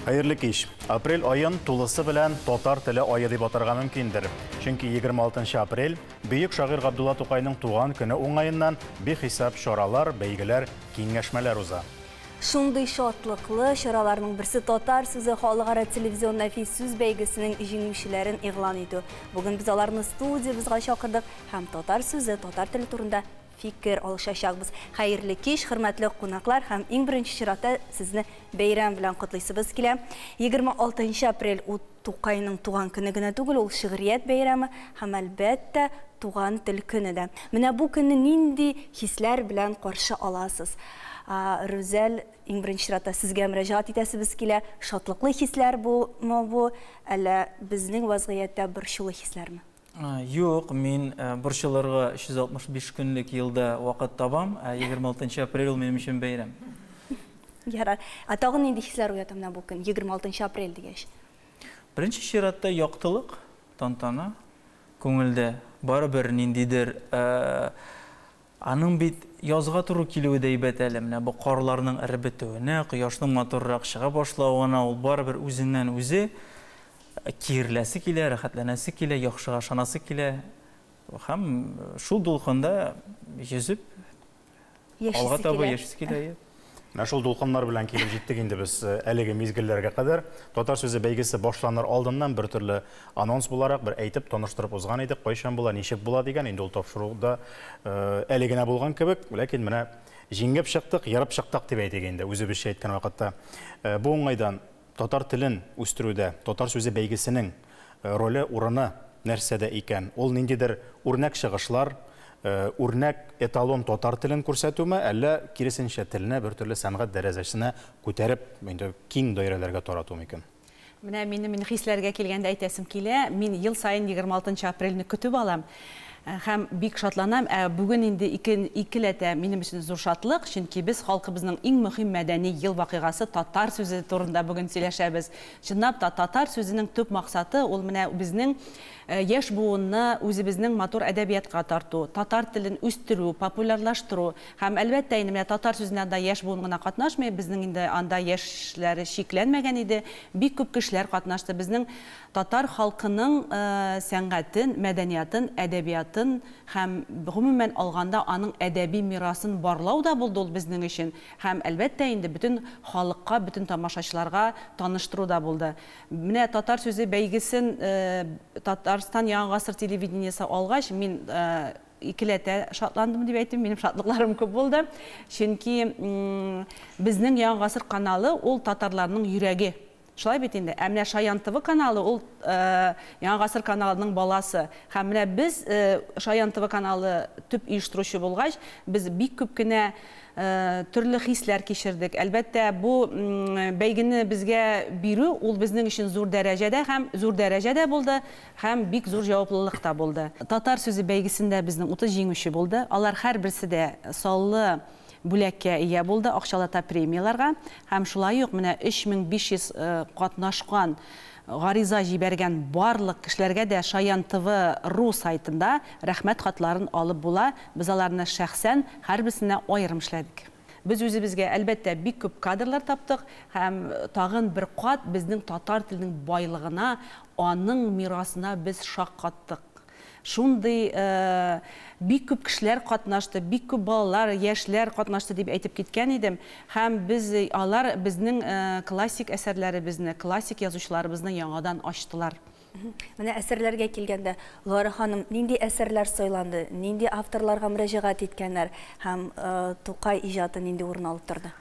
Хәерле кич. Апрель айын тулысы белән татар теле айы дип атарга мөмкиндер. Чөнки 26 апрель бөек шагыйрь Габдулла Тукайның туган көне уңаеннан бихисап чаралар, бәйгеләр, киңәшмәләр уза. Шундый шатлыклы чараларның берсе Татар сүзе халыкара телевизион нәфис сүз бәйгесенең җиңүчеләрен игълан итү. Бүген без аларны студиябезга чакырдык һәм татар сүзе, татар теле турында фикер алышачакбыз. Хәерле кич, хөрмәтле кунаклар һәм иң беренче чиратта сезне бәйрәм белән котлыйсыбыз килә. 26 апрель Тукайның туган көне генә түгел, ул шигърият бәйрәме һәм, әлбәттә, туган тел көне дә. Менә бу көнне нинди хисләр белән каршы аласыз? Рүзәл, иң беренче чиратта сезгә мөрәҗәгать итәсебез килә. Шатлыклы хисләр бу мы бу, әллә безнең вазгыятьтә борчулы хисләрме? Юк, мин борчылырга 365 көнлек елда вакыт табам, ә 26 апрель ул минем өчен бәйрәм. Ярар. Ә тагын нинди хисләр уята менә бу көн, 26 апрель дигәч? Беренче чиратта яктылык, тантана күңелдә. Барыбер ниндидер Аның бит язга туры килүе дә әйбәт әле, менә бу карларның эреп бетүенә, кояшның матуррак чыга башлавына ул барыбер үзеннән-үзе киереләсе килә, рәхәтләнәсе килә, яхшыга ышанасы килә һәм шул дулкында йөзеп, алга таба яшисе килә. Менә шул дулкыннар белән килеп җиттек инде без э, әлеге мизгелләргә кадәр. Татар сүзе бәйгесе башланыр алдыннан бер төрле анонс буларак бер әйтеп таныштырып узган идек, кайчан була, ничек була дигән. Инде ул тапшыруда э, әле генә булган кебек, ләкин менә җиңеп чыктык, ярып чыктык дип әйтик инде, үзебезчә әйткән вакытта. Э, бу уңайдан Татар телен үстерүдә татар сүзе бәйгесенең роле, урыны нәрсәдә икән? Ул ниндидер үрнәк чыгышлар, үрнәк, эталон татар телен күрсәтүме, әллә, киресенчә, телне бертөрле сәнгать дәрәзәсенә күтәреп, инде киң даирәләргә тарату микән? Менә минем инде хисләргә килгәндә әйтәсем килә. Мин ел саен егерме алтынчы апрельне көтеп алам. Һәм бик шатланам, ә бүген инде ике икеләтә минем өчен зур шатлык, чөнки без халкыбызның иң мөһим мәдәни ел вакыйгасы татар сүзе турында бүген сөйләшәбез. Чынлап та, татар сүзенең төп максаты, ул менә безнең яшь буынны үзебезнең матур әдәбиятка тарту, татар телен үстерү, популярлаштыру. Һәм, әлбәттә, инде менә татар сүзенә анда яшь буын гына катнашмый, безнең инде анда яшьләр чикләнмәгән иде, бик күп кешеләр катнашты. Безнең Татар халкының сәнгатен, мәдәниятын, әдәбиятын һәм, гомумән алганда, аның әдәби мирасын барлау да булды ул безнең өчен һәм, әлбәттә инде, бөтен халыкка, бөтен тамашачыларга таныштыру да булды. Менә Татар сүзе бәйгесен Татарстан Яңа гасыр телевидениесе алгач, мин икеләтә шатландым дип әйтим, минем шатлыкларым күп булды. Чөнки Безнең Яңа гасыр каналы ул татарларның йөрәге. Шулай бит инде. Ә менә Шаян ТВ каналы ул Яңа гасыр каналының баласы. Һәм менә без Шаян ТВ каналы төп оештыручы булгач, без бик күп кенә төрле хисләр кичердек. Әлбәттә, бу бәйгене безгә бирү ул безнең өчен зур дәрәҗә дә һәм зур дәрәҗә дә булды, һәм бик зур җаваплылык та булды. Татар сүзе бәйгесендә безнең 30 җиңүче булды. Алар һәрберсе дә саллы бүләккә ия булды, акчалата премияләргә һәм шулай ук менә 3500 катнашкан, гариза җибәргән барлык кешеләргә дә Шаян ТВ ру сайтында рәхмәт хатларын алып була, без аларны шәхсән һәрберсенә аерым эшләдек. Без үзебезгә, әлбәттә, бик күп кадрлар таптык һәм тагын бер кат безнең татар теленең байлыгына, аның мирасына без шаккаттык. Шундый бик күп кешеләр катнашты, бик күп балалар, яшьләр катнашты дип әйтеп киткән идем. Һәм без, алар безнең классик әсәрләребезне, классик язучыларыбызны яңадан ачтылар. Менә әсәрләргә килгәндә, Лара ханым нинди әсәрләр сайланды, нинди авторларга мөрәҗәгать иткәннәр һәм Тукай иҗаты нинди урын алып торды?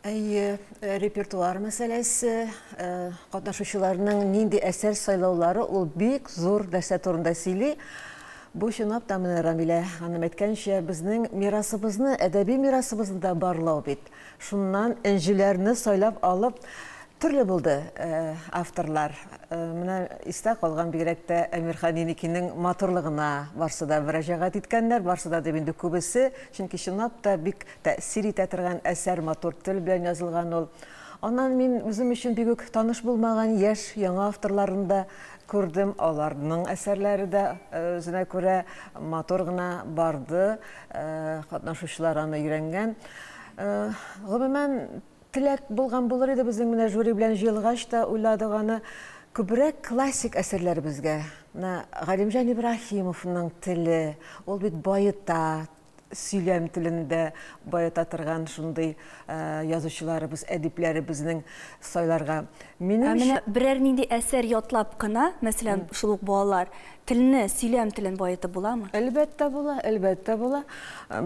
Әйе, э, репертуар мәсьәләсе, э, катнашучыларның нинди әсәр сайлаулары ул бик зур нәрсә турында сөйли. Бу чынлап та менә Рамилә ханым әйткәнчә, безнең мирасыбызны, әдәби мирасыбызны да барлау бит. Шуннан энҗеләрне сайлап алып төрле булды э, авторлар. Э, менә истә калган бигрәк тә Әмирхан Еникинең матурлыгына барсы да мөрәҗәгать иткәннәр, барсы да дип инде күбесе, чөнки чынлап та бик Тәэсир итә торган әсәр, матур тел белән язылган ул. Аннан мин үзем өчен бик үк таныш булмаган яшь, яңа авторларны да күрдем, аларның әсәрләре дә үзенә күрә матур гына барды, катнашучылар аны өйрәнгән. Гомумән, теләк булган булыр иде безнең менә жюри белән җыелгач та уйладык аны, күбрәк классик әсәрләребезгә, менә Галимҗан Ибраһимовның теле, ул бит баета, сөйләм телен дә баета торган шундый язучыларыбыз, әдипләребезнең сайларга. Минем Ә менә берәр нинди әсәр ятлап кына, мәсәлән, шул ук балалар телне, сөйләм телен баетып буламы? Әлбәттә була, әлбәттә була.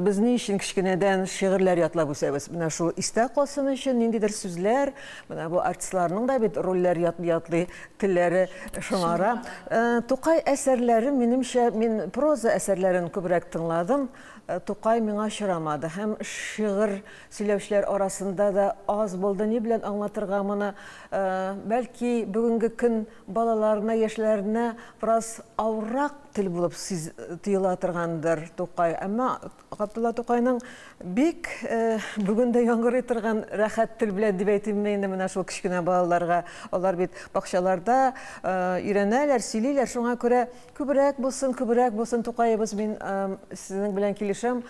Без ни өчен кечкенәдән шигырьләр ятлап үсәбез? Менә шул истә калсын өчен ниндидер сүзләр, менә бу артистларның да бит рольләр ятлый, телләре шомара. Э, Тукай әсәрләре, минемчә, мин проза әсәрләрен күбрәк тыңладым. Э, Тукай миңа очрамады һәм шигырь сөйләүчеләр арасында да аз булды. Ни белән аңлатырга моны? Э, Бәлки бүгенге көн балаларына, яшьләренә бераз авыррак тел булып сиз- тоела торгандыр Тукай. Әмма Габдулла Тукайның бик бүген дә яңгырый торган рәхәт тел белән дип әйтимме инде менә шул кечкенә балаларга. Алар бит бакчаларда өйрәнәләр, сөйлиләр, шуңа күрә күбрәк булсын, күбрәк булсын Тукаебыз, мин сезнең белән килешәм,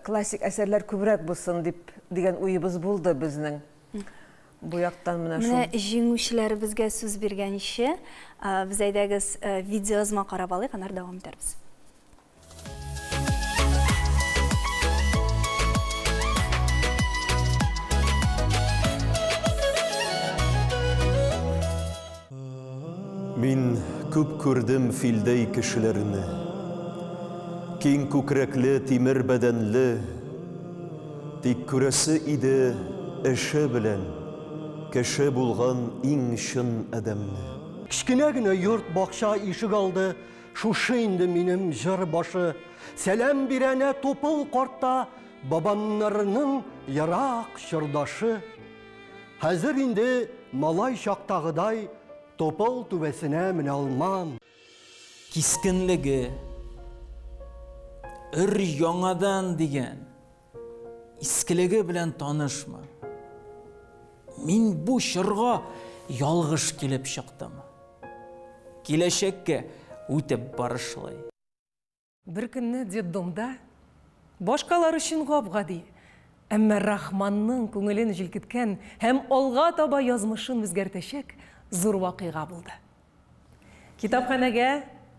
классик әсәрләр күбрәк булсын дип дигән уебыз булды безнең. Бу яктан менә шул. Менә җиңүчеләребезгә сүз биргәнче, без әйдәгез видеоязма карап алыйк, аннары дәвам итәрбез. Мин күп күрдем филдәй кешеләрне. Киң күкрәкле, тимер бәдәнле. Тик күрәсе иде эше белән кеше булган иң чын адәмне. Кечкенә генә йорт, бакча, ишегалды, Шушы инде минем җыр башы. Сәлам бирәнә тупыл карта, бабамнарының ерак чордашы. Хәзер инде малай чактагыдай тупыл түбәсенә менә алмам. Кискенлеге, өр-яңадан дигән Искелеге белән танышмы? Мин бу чорга ялгыш килеп чыктым. Киләчәккә үтеп барышлый. Беркөнне детдомда башкалар өчен гап-гади, әмма Рахманның күңелен җилкеткән һәм алга таба язмышын үзгәртәчәк зур вакыйга булды. Китапханәгә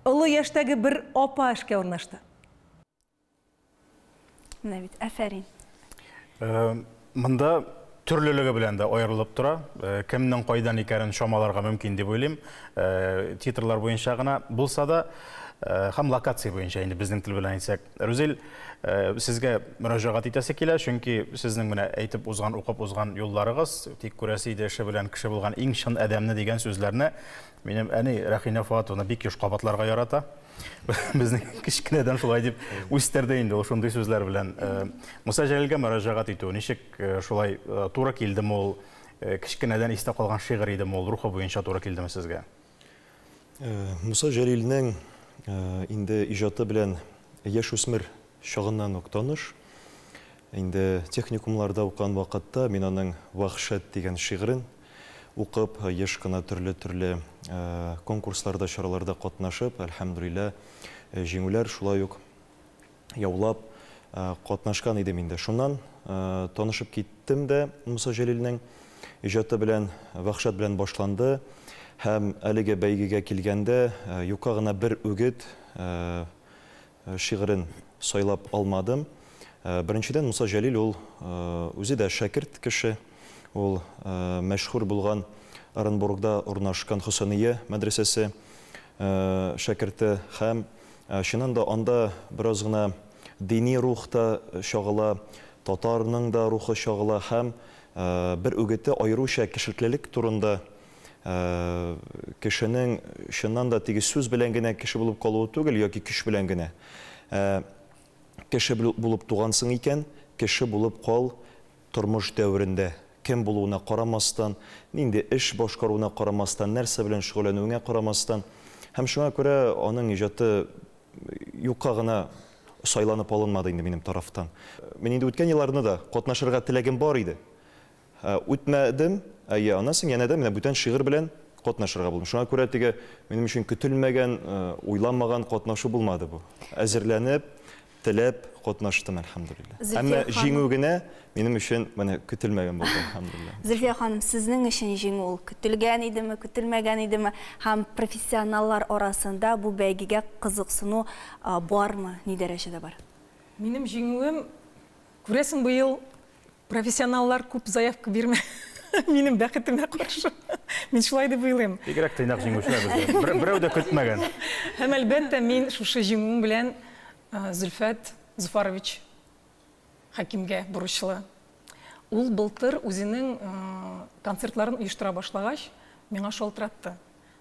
олы яшьтәге бер апа эшкә урнашты. Менә бит, әфәрин. Э, монда төрлелеге белән дә аерылып тора. Э, кемнең кайдан икәнен чамаларга мөмкин дип уйлыйм. Э, титрлар буенча гына булса да, э, һәм локация буенча инде безнең тел белән әйтсәк. Рүзел, сезгә мөрәҗәгать итәсе килә, чөнки сезнең менә әйтеп узган, укып узган юлларыгыз, тик күрәсе иде эше белән кеше булган иң чын адәмне дигән сүзләрне Минем әни Рәхинә Фуатовна бик еш кабатларга ярата. Безне кечкенәдән шулай дип үстерде инде ул шундый сүзләр белән. Э, Муса Җәлилгә мөрәҗәгать итү ничек э, шулай э, туры килдеме ул? Кечкенәдән истә калган шигырь идеме ул? Рухы буенча туры килдеме сезгә? Муса Җәлилнең инде иҗаты белән яшь үсмер чагыннан ук таныш. Инде техникумларда укыган вакытта мин аның Вахшат дигән шигырен Укып, еш кына төрле-төрле конкурсларда, чараларда катнашып, әлхәмдүлиллә, җиңүләр, шулай ук яулап катнашкан идем инде. Шуннан танышып киттем дә Муса Җәлилнең иҗаты белән, Вәхшәт белән башланды. Һәм әлеге бәйгегә килгәндә, юкка гына бер үгет, шигырен сайлап алмадым. Беренчедән, Муса Җәлил ул үзе дә шәкерт кеше. Ул мәшһүр булган Оренбургда урнашкан Хөсәния мәдрәсәсе шәкерте һәм, чыннан да, анда бераз гына дини рух та чагыла, татарның да рухы чагыла һәм бер үгете аеруча кешелклелек турында кешенең чыннан да теге сүз белән генә кеше булып калуы түгел, яки көч белән генә. Кеше булып тугансың икән, кеше булып кал тормыш дәверендә. Кем булуына карамастан, нинди эш башкаруына карамастан, нәрсә белән шөгыльләнүеңә карамастан. Һәм шуңа күрә аның иҗаты юкка гына сайланып алынмады инде минем тарафтан. Мин инде үткән елларны да катнашырга теләгем бар иде. Үтмәдем. Әйе, аннан соң янә дә менә бүтән шигырь белән катнашырга булдым. Шуңа күрә теге минем өчен көтелмәгән, уйламаган катнашу булмады бу. Әзерләнеп, теләп катнаштым, әлхәмдүлилләһ. Әмма җиңү генә минем өчен менә көтелмәгән булды, әлхәмдүлилләһ. Зөлфия ханым, сезнең өчен җиңү ул көтелгән идеме, көтелмәгән идеме? Һәм профессионаллар арасында бу бәйгегә кызыксыну бармы, ни дәрәҗәдә бар? Минем җиңүем Күрәсең, быел профессионаллар күп заявка бирмә минем бәхетемә каршы. Мин шулай дип уйлыйм. Бигрәк тыйнак җиңүчеләр бездә. Берәү дә көтмәгән. Һәм, әлбәттә, мин шушы җиңүем белән Зөлфәт Зуфарович Хәкимгә бурычлы. Ул былтыр үзенең концертларын оештыра башлагач, миңа шалтыратты.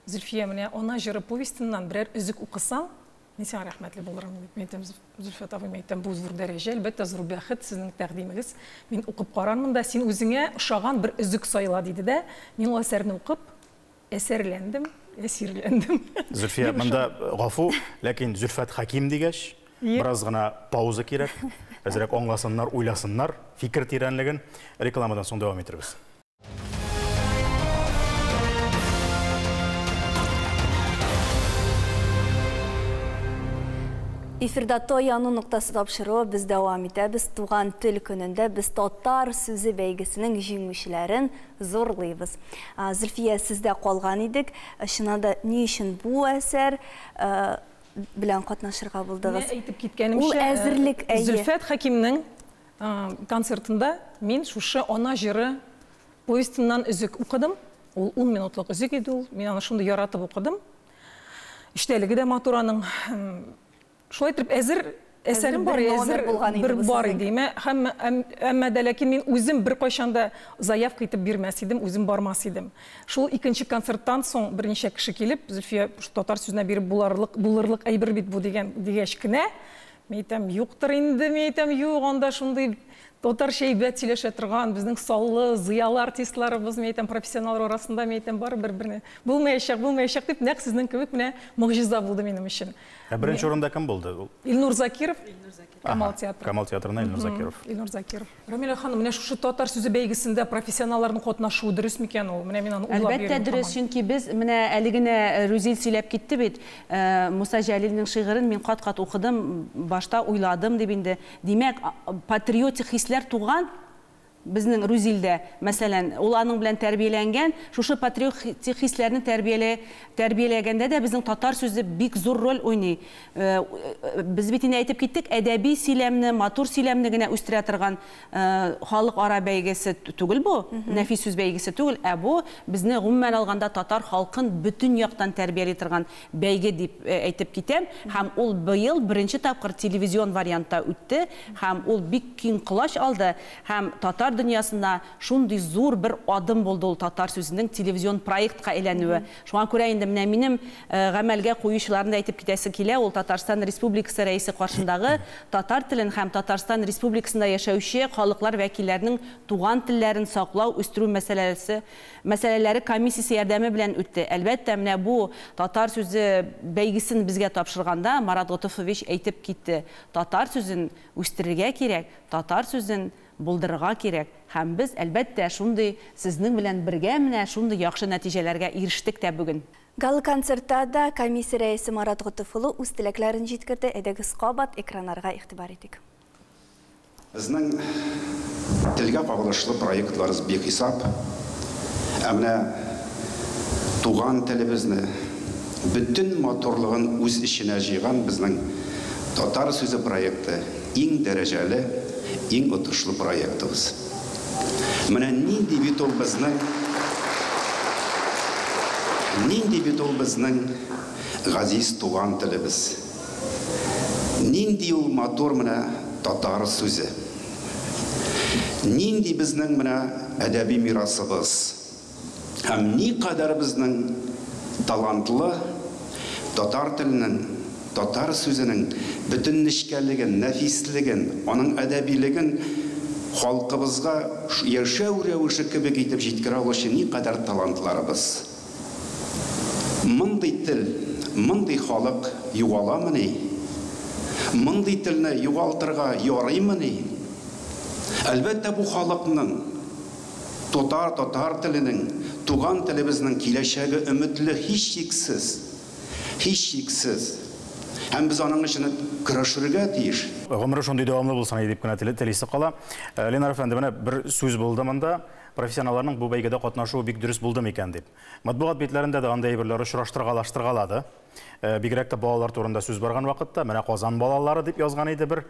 Зөлфия, менә Ана җыры повестеннан берәр өзек укысаң, Мин сиңа рәхмәтле булырым, дип мин әйтәм, Зөлфәт абый, мин әйтәм, бу зур дәрәҗә, әлбәттә, зур бәхет, сезнең тәкъдимегез. Мин укып карармын да, син үзеңә ошаган бер өзек сайла, диде дә, мин ул әсәрне укып, әсәрләндем, әсирләндем. Зөлфия, монда гафу, ләкин Зөлфәт Хәким дигәч, бераз гына пауза кирәк. Әзрәк аңласыннар, уйласыннар, фикер тирәнлеген. Рекламадан соң дәвам итәрбез. Эфирда Тояну ноктасы тапшыруы без дәвам итәбез. Туган тел көнендә без татар сүзе бәйгесенең җиңүчеләрен зурлыйбыз. Зөлфия, сездә калган идек. Чыннан да ни өчен бу әсәр белән катнашырга булдыгыз? Менә әйтеп киткәнемчә, Ул әзерлек, әйе. Зөлфәт Хәкимнең концертында мин шушы Ана җыры повестеннан өзек укыдым. Ул ун минутлык өзек иде ул. Мин аны шундый яратып укыдым. Эчтәлеге дә матур аның. Шулай итеп, әзер әсәрем бар, әзер бер бар иде. Әмма дә ләкин мин үзем беркайчан да заявка итеп бирмәс идем, үзем бармас идем. Шул икенче концерттан соң берничә кеше килеп, Зөлфия, шул татар сүзенә биреп булырлык әйбер бит бу, дигән, дигәч кенә, Мин әйтәм, юктыр инде, мин әйтәм, юк, анда шундый татарча әйбәт сөйләшә торган, безнең саллы, зыялы артистларыбыз, мин әйтәм, профессионаллар арасында, мин әйтәм, барыбер берне, булмаячак, булмаячак, дип, нәкъ сезнең кебек менә могҗиза булды минем өчен. Ә беренче урында кем булды? Илнур Закиров, Камал театры. Камал театрына Илнур Закиров. Илнур Закиров. Рамилә ханым, менә шушы татар сүзе бәйгесендә профессионалларның катнашуы дөрес микән ул? Менә мин аны уйлап йөрим. Әлбәттә дөрес, чөнки без, менә әле генә Рүзил сөйләп китте бит, Муса Җәлилнең шигырен мин кат-кат укыдым, башта уйладым дип инде. Димәк, патриотик хисләр туган безнең Рүзилдә, мәсәлән, ул аның белән тәрбияләнгән, шушы патриотик хисләрне тәрбияләгәндә дә безнең татар сүзе бик зур роль уйный. Без бит инде әйтеп киттек, әдәби сөйләмне, матур сөйләмне генә үстерә торган халыкара бәйгесе түгел бу, нәфис сүз бәйгесе түгел, ә бу безне гомумән алганда татар халкын бөтен яктан тәрбияли торган бәйге дип әйтеп китәм. Һәм ул быел беренче тапкыр телевизион вариантта үтте һәм ул бик киң колач алды һәм татар дөньясына шундый зур бер адым булды ул татар сүзенең телевизион проектка әйләнүе. Шуңа күрә инде менә минем гамәлгә куючыларны да әйтеп китәсе килә, ул Татарстан Республикасы Рәисе каршындагы татар телен һәм Татарстан Республикасында яшәүче халыклар вәкилләренең туган телләрен саклау, үстерү мәсьәләсе мәсьәләләре комиссиясе ярдәме белән үтте. Әлбәттә, менә бу татар сүзе бәйгесен безгә тапшырганда Марат Готыфович әйтеп китте, татар сүзен үстерергә кирәк, татар сүзен Булдырырга кирәк һәм без, әлбәттә, шундый сезнең белән бергә менә шундый яхшы нәтиҗәләргә ирештек тә бүген. Гала-концертта да комиссия рәисе Марат Готыф улы үз теләкләрен җиткерде, әйдәгез кабат экраннарга игътибар итик. Безнең телгә кагылышлы проектларыз бихисап, ә менә туган телебезне бөтен матурлыгын үз эченә җыйган безнең Татар сүзе проекты Иң дәрәҗәле, иң отышлы проектыбыз. Менә нинди бит ул безнең, нинди бит ул безнең газиз туган телебез! Нинди ул матур менә татар сүзе! Нинди безнең менә әдәби мирасыбыз! һәм никадәр безнең талантлы татар теленең, татар сүзенең бөтен нечкәлеген, нәфислеген, аның әдәбилеген халкыбызга яшәү рәвеше кебек итеп җиткерә алучы никадәр талантларыбыз! Мондый тел, мондый халык югаламыни? Мондый телне югалтырга ярыймыни? Әлбәттә, бу халыкның. Тотар татар теленең, туган телебезнең киләчәге өметле, һичшиксез. Һичшиксез. Һәм без аның өчен көрәшергә тиеш. Гомере шундый дәвамлы булсын иде дип кенә телисе кала. Ленар әфәнде, менә бер сүз булды монда, профессионалларның бу бәйгедә катнашуы бик дөрес булды микән дип. Матбугат битләрендә дә андый әйберләр очраштыргалаштыргалады. Бигрәк тә балалар турында сүз барган вакытта, менә Казан балалары дип язган иде бер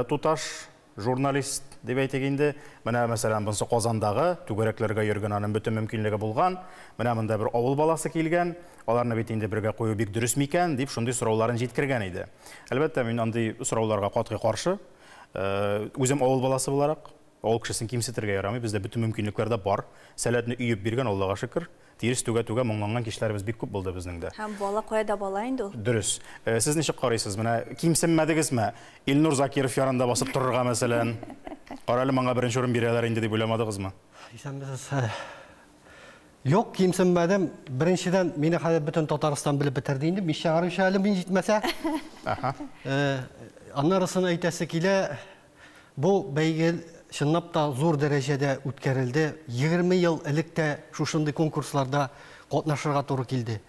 туташ. Журналист дип әйтик инде. Менә, мәсәлән, бунсы Казандагы, түгәрәкләргә йөргән, аның бөтен мөмкинлеге булган. Менә монда бер авыл баласы килгән, аларны бит инде бергә кую бик дөрес микән, дип шундый сорауларын җиткергән иде. Әлбәттә, мин андый сорауларга катгый каршы. Үзем авыл баласы буларак, авыл кешесен кимсетергә ярамый, бездә бөтен мөмкинлекләр дә бар. Сәләтне өеп биргән, Аллага шөкер. Тирс түгә-түгә моңланган кичләребез бик күп булды безнең дә. Һәм бала кая да бала инде ул. Дөрес. Сез ничек карыйсыз, менә кимсенмәдегезме? Илнур Закиров янында басып торырга, мәсәлән. Карале, моңа беренче урын бирәләр инде дип уйламадыгызмы? Исәнмесез. Юк, кимсенмәдем. Беренчедән, мине хәзер бөтен Татарстан белеп бетерде инде, мич чыгаручы әле мин җитмәсә. Аннарысын әйтәсе килә. Бу бәйге чынлап та зур дәрәҗәдә үткәрелде. Егерме ел элек тә шушындый конкурсларда катнашырга туры килде.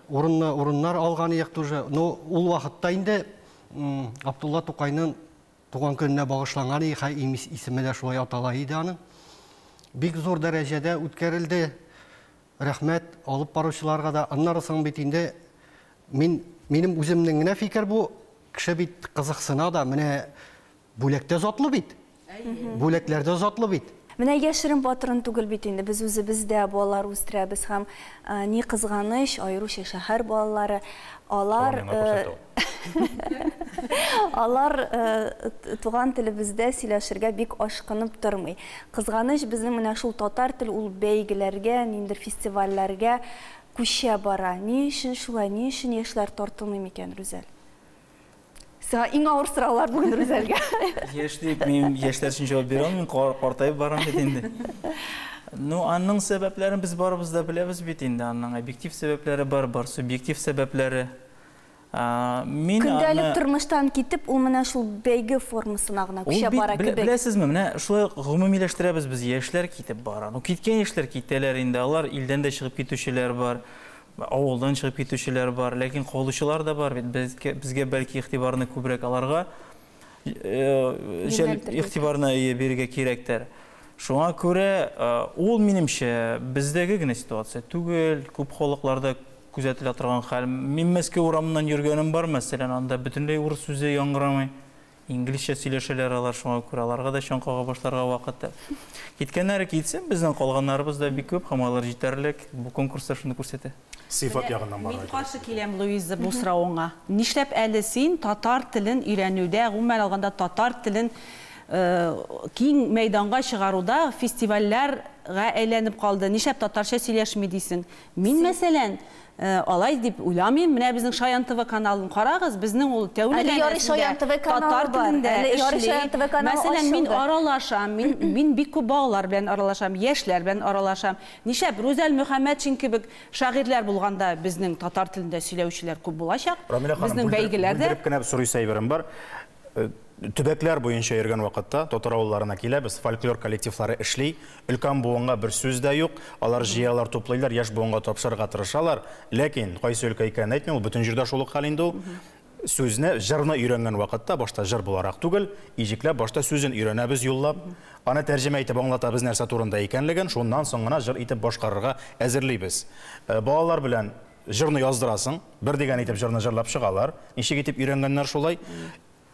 Урынлы урыннар алган идек тоже. Но ул вакытта инде Абдулла Тукайның туган көненә багышланган иде, хәй исеме дә шулай атала иде аның. Бик зур дәрәҗәдә үткәрелде. Рәхмәт алып баручыларга да. Аннары соң бит инде мин, минем үземнең генә фикер бу, кеше бит кызыксына да, менә бүләк тә затлы бит. Бүләкләр дә затлы бит. Менә яшерен патрон түгел бит инде, без үзебез дә балалар үстерәбез һәм, ни кызганыч, аеруча шәһәр балалары, алар, Алар туган телебездә сөйләшергә бик ашкынып тормый. Кызганыч, безнең менә шул татар тел ул бәйгеләргә, ниндидер фестивальләргә күчә бара. Ни өчен шулай, ни өчен яшьләр тартылмый микән, Рүзәл? Сиңа иң авыр сораулар бүген Рүзәлгә. Яшь дип, мин яшьләр өчен җавап бирә алмыйм, картаеп барам бит инде. Ну, аның сәбәпләрен без барыбыз да беләбез бит инде, аның объектив сәбәпләре бар, бар субъектив сәбәпләре. Көндәлек тормыштан китеп, ул менә шул бәйге формасына гына күчә бара кебек. Беләсезме, менә шулай гомумиләштерәбез без, яшьләр китеп бара. Ну, киткән яшьләр китәләр инде, алар илдән дә чыгып китүчеләр бар, авылдан чыгып китүчеләр бар, ләкин калучылар да бар бит. Безгә бәлки игътибарны күбрәк аларга игътибарны бирергә кирәктер. Шуңа күрә ул, минемчә, бездәге генә ситуация түгел, күп халыкларда Күзәтелә торган хәл. Мин Мәскәү урамыннан йөргәнем бар, мәсәлән, анда бөтенләй урыс сүзе яңгырамый. Инглизчә сөйләшәләр алар, шуңа күрә аларга да чаң кага башларга вакыт әле. Киткәннәре китсен, безнең калганнарыбыз да бик күп һәм алар җитәрлек, бу конкурс та шуны күрсәтә. Сыйфат ягыннан барырга кирәк. Мин каршы киләм, Луиза, бу соравыңа. Нишләп әле син татар телен өйрәнүдә, гомумән алганда татар телен киң мәйданга чыгаруда фестивальләр гә әйләнеп калды, нишләп татарча сөйләшми дисең? Мин мәсәлән, алай дип уйламыйм. Менә безнең Шаян ТВ каналын карагыз, безнең ул тәүлек әйләнәсендә татар телендә эшли. Мәсәлән, мин аралашам, мин, мин бик күп балалар белән аралашам, яшьләр белән аралашам. Нишләп? Рүзәл Мөхәммәтшин кебек шагыйрьләр булганда безнең татар телендә сөйләүчеләр күп булачак. Рамилә ханым, бүлдереп кенә сорыйсы әйберем бар. Э, төбәкләр буенча йөргән вакытта татар авылларына киләбез фольклор коллективлары эшли өлкән буынга бер сүз дә юк алар җыялар туплыйлар яшь буынга тапшырырга тырышалар ләкин кайсы өлкә икәнен әйтмим ул бөтен җирдә шул ук хәл инде ул сүзне җырны өйрәнгән вакытта башта җыр буларак түгел иҗекләп башта сүзен өйрәнәбез юллап аны тәрҗемә итеп аңлатабыз нәрсә турында икәнлеген шуннан соң гына җыр итеп башкарырга әзерлибез э, балалар белән Җырны яздырасың, бер дигән итеп җырны җырлап чыгалар. Ничек итеп өйрәнгәннәр шулай.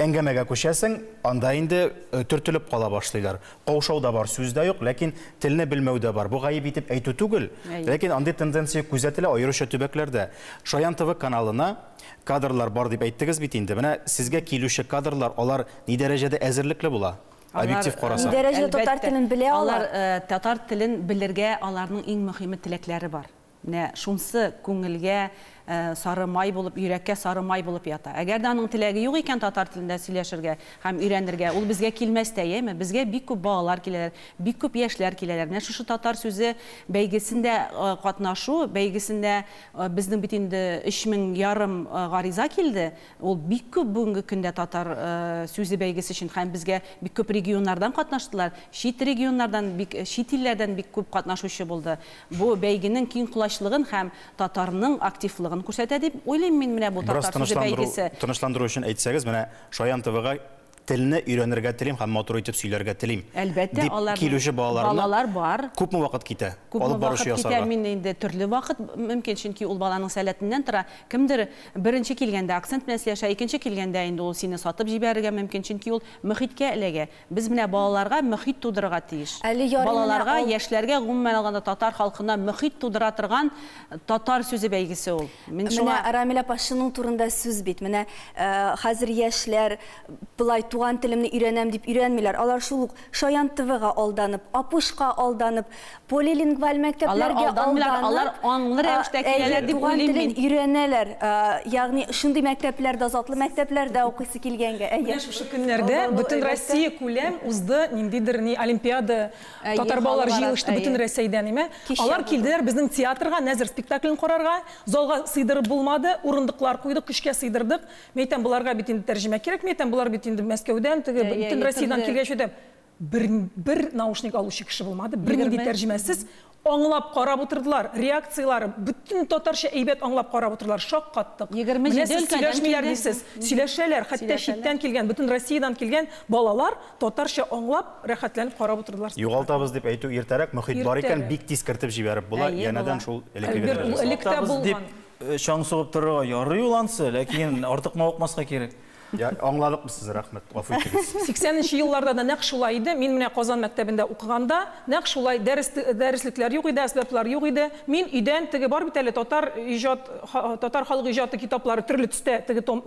Әңгәмәгә күчәсең, анда инде төртелеп кала башлыйлар. Каушау да бар, сүз дә юк, ләкин телне белмәү дә бар. Бу гаеп итеп әйтү түгел, ләкин андый тенденция күзәтелә, аеруча төбәкләрдә. Шаян ТВ каналына кадрлар бар дип әйттегез бит инде. Менә сезгә килүче кадрлар, алар ни дәрәҗәдә әзерлекле була, объектив карасак? Ни дәрәҗәдә татар телен белә алар? Алар татар телен белергә, аларның иң мөһиме теләкләре бар. Менә шунсы күңелгә сары май булып, йөрәккә сары май булып ята. Әгәр дә аның теләге юк икән татар телендә сөйләшергә һәм өйрәнергә, ул безгә килмәс тә, яме? Безгә бик күп балалар киләләр, бик күп яшьләр киләләр. Менә шушы татар сүзе бәйгесендә катнашу бәйгесендә безнең бит инде өч мең ярым гариза килде, Ул бик күп бүгенге көндә татар сүзе бәйгесе өчен һәм безгә бик күп регионнардан катнаштылар, чит регионнардан бик, чит илләрдән бик күп катнашучы булды. Бу бәйгенең киң колачлыгын һәм татарның активлыгын күрсәтә дип уйлыйм мин менә бу Бераз татар сүзе тынычландыру, бәйгесе. тынычландыру өчен әйтсәгез, менә Шаян ТВга Телне өйрәнергә телим һәм матур итеп сөйләргә телим, Әлбәттә, дип алар килүче балаларына балалар бар. күпме вакыт китә Күпме алып баручы вакыт китә, ясарга? мин инде төрле вакыт мөмкин, чөнки ул баланың сәләтеннән тора. Кемдер беренче килгәндә акцент белән сөйләшә, икенче килгәндә инде ул сине сатып җибәрергә мөмкин, чөнки ул мөхиткә эләгә. Без менә балаларга мөхит тудырырга тиеш. Әле ярый менә Балаларга, ал. яшьләргә, гомумән алганда татар халкына мөхит тудыра торган татар сүзе бәйгесе ул. Мин шуңа... Менә Рамиль апа шуның турында сүз бит. Менә э, хәзер яшьләр былай туган телемне өйрәнәм дип өйрәнмиләр. Алар шул ук Шаян ТВга алданып, Апушка алданып, полилингваль мәктәпләргә алар алданып, алар аңлы рәвештә киләләр дип уйлыйм мин. Туган телен өйрәнәләр. Ягъни шундый мәктәпләрдә, затлы мәктәпләрдә укыйсы килгәнгә. Әйе. Менә шушы көннәрдә бөтен Россия күләм узды ниндидер ни олимпиада, Татар балалар җыелышты бөтен Рәсәйдән име? Алар килделәр безнең театрга, Нәзер спектаклен карарга. Залга сыйдырып булмады, урындыклар куйдык, көчкә сыйдырдык. Мин әйтәм, боларга бит инде тәрҗемә кирәкми, әйтәм, болар бит инде Мәскәүдән, теге бөтен Россиядән килгәч, әйтәм, бер, бер наушник алучы кеше булмады, бернинди тәрҗемәсез. Аңлап карап утырдылар, реакцияләре, бөтен татарча әйбәт аңлап карап утырдылар, шаккаттык. Менә сез сөйләшмиләр дисез, сөйләшәләр, хәтта читтән килгән, бөтен Россиядән килгән балалар Татарча аңлап, рәхәтләнеп карап утырдылар. Югалтабыз дип әйтү иртәрәк, мохит бар икән, бик тиз кертеп җибәреп була, янәдән шул элеккеге дәрәҗә. Альберт, ул элеккедә булган. Чаң сугып торырга ярый ул ансы, ләкин артык мавыкмаска кирәк. Аңладык без сезне, рәхмәт, гафу итегез. Сиксәненче елларда да нәкъ шулай иде. Мин менә Казан мәктәбендә укыганда, нәкъ шулай, дәреслекләр юк иде, әсбаплар юк иде. Мин өйдән, теге бар бит әле татар иҗат, татар халык иҗаты китаплары төрле төстә, теге том,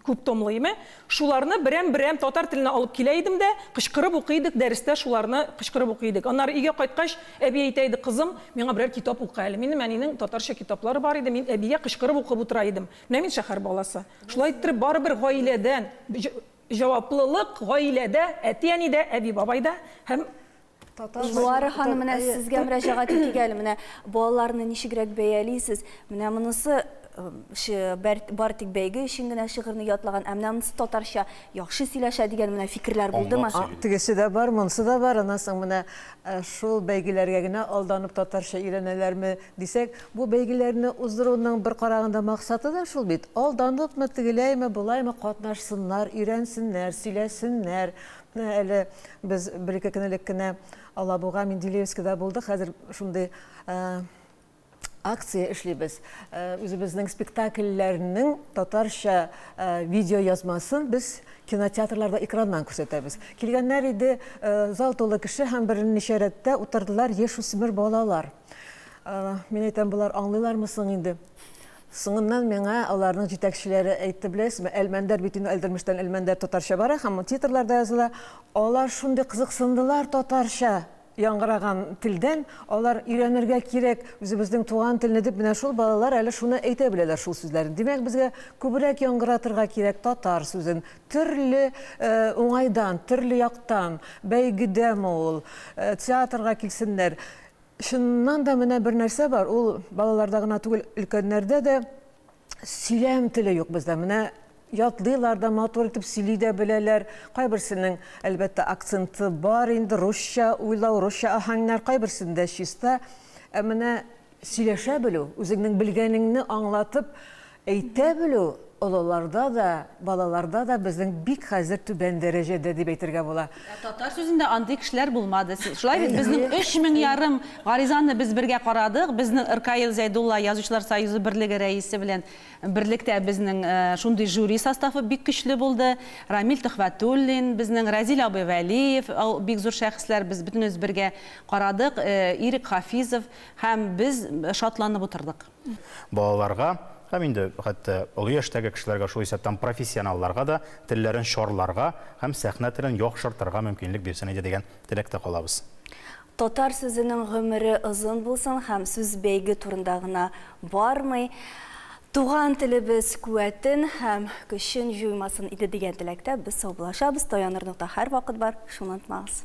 күп томлы име, Шуларны берәм-берәм татар теленә алып килә идем дә, кычкырып укый идек, дәрестә шуларны кычкырып укый идек. Аннары өйгә кайткач, әби әйтә иде, Кызым, миңа берәр китап укы әле. Минем әнинең татарча китаплары бар иде, мин әбигә кычкырып укып утыра идем. Менә мин шәһәр баласы. Шулай иттереп, барыбер гаиләдән, җаваплылык гаиләдә, әти-әнидә, әби-бабайда һәм. Луара ханым, менә сезгә мөрәҗәгать итик әле. Менә балаларны ничегрәк бәялисез? Менә монысы бар тик бәйге өчен генә шигырьне ятлаган, ә менә монысы татарча яхшы сөйләшә дигән менә фикерләр булдымы? Тегесе дә бар, монысы да бар. Аннан соң менә шул бәйгеләргә генә алданып татарча өйрәнәләрме дисәк, бу бәйгеләрне уздыруның бер караганда максаты да шул бит. Алданып мы, тегеләйме, болаймы катнашсыннар, өйрәнсеннәр, сөйләсеннәр. Менә әле без бер-ике көн элек кенә Алабуга, Менделеевскида булдык. Хәзер шундый акция эшлибез. Үзебезнең спектакльләрнең татарча видео язмасын без кинотеатрларда экраннан күрсәтәбез. Килгәннәр иде, зал тулы кеше һәм берничә рәттә утырдылар яшүсмер балалар. Мин әйтәм, болар аңлыйлармы соң инде? Соңыннан миңа аларның җитәкчеләре әйтте, беләсезме, Әлмәндәр бит инде Альдермештән Әлмәндәр татарча бара һәм титрларда языла. Алар шундый кызыксындылар татарча яңгыраган телдән, алар өйрәнергә кирәк үзебезнең туган телне дип, менә шул балалар әле шуны әйтә беләләр шул сүзләрне. Димәк, безгә күбрәк яңгыратырга кирәк татар сүзен. Төрле уңайдан, төрле яктан, бәйгедәме ул, театрга килсеннәр. Чыннан да менә бер нәрсә бар, ул балаларда гына түгел, өлкәннәрдә дә сөйләм теле юк бездә. Менә ятлыйлар да, матур итеп сөйли дә беләләр. Кайберсенең, әлбәттә, акценты бар инде, русча уйлау, русча аһәңнәр, кайберсендә чиста. Ә менә сөйләшә белү, үзеңнең белгәнеңне аңлатып, Әйтә белү олыларда да, балаларда да безнең бик хәзер түбән дәрәҗәдә дип әйтергә була. Ә татар сүзендә андый кешеләр булмады. Шулай бит, безнең өч мең ярым гаризаны без бергә карадык. Безнең Ркаил Зәйдулла Язучылар союзы берлеге рәисе белән берлектә безнең шундый жюри составы бик көчле булды. Рамил Төхвәтуллин безнең, Рәзил абый Вәлиев, ул бик зур шәхесләр, без бөтенебез бергә карадык, Ирек Хафизов һәм без шатланып утырдык. Балаларга һәм инде хәтта олы яшьтәге кешеләргә, шул исәптән профессионалларга да телләрен чарларга һәм сәхнә телен яхшыртырга мөмкинлек бирсен иде дигән теләктә калабыз. Татар сүзенең гомере озын булсын һәм сүз бәйге турында гына бармый, туган телебез куәтен һәм көчен җуймасын иде дигән теләктә без саубуллашабыз, таяныр нокта һәрвакыт бар, шуны онытмагыз.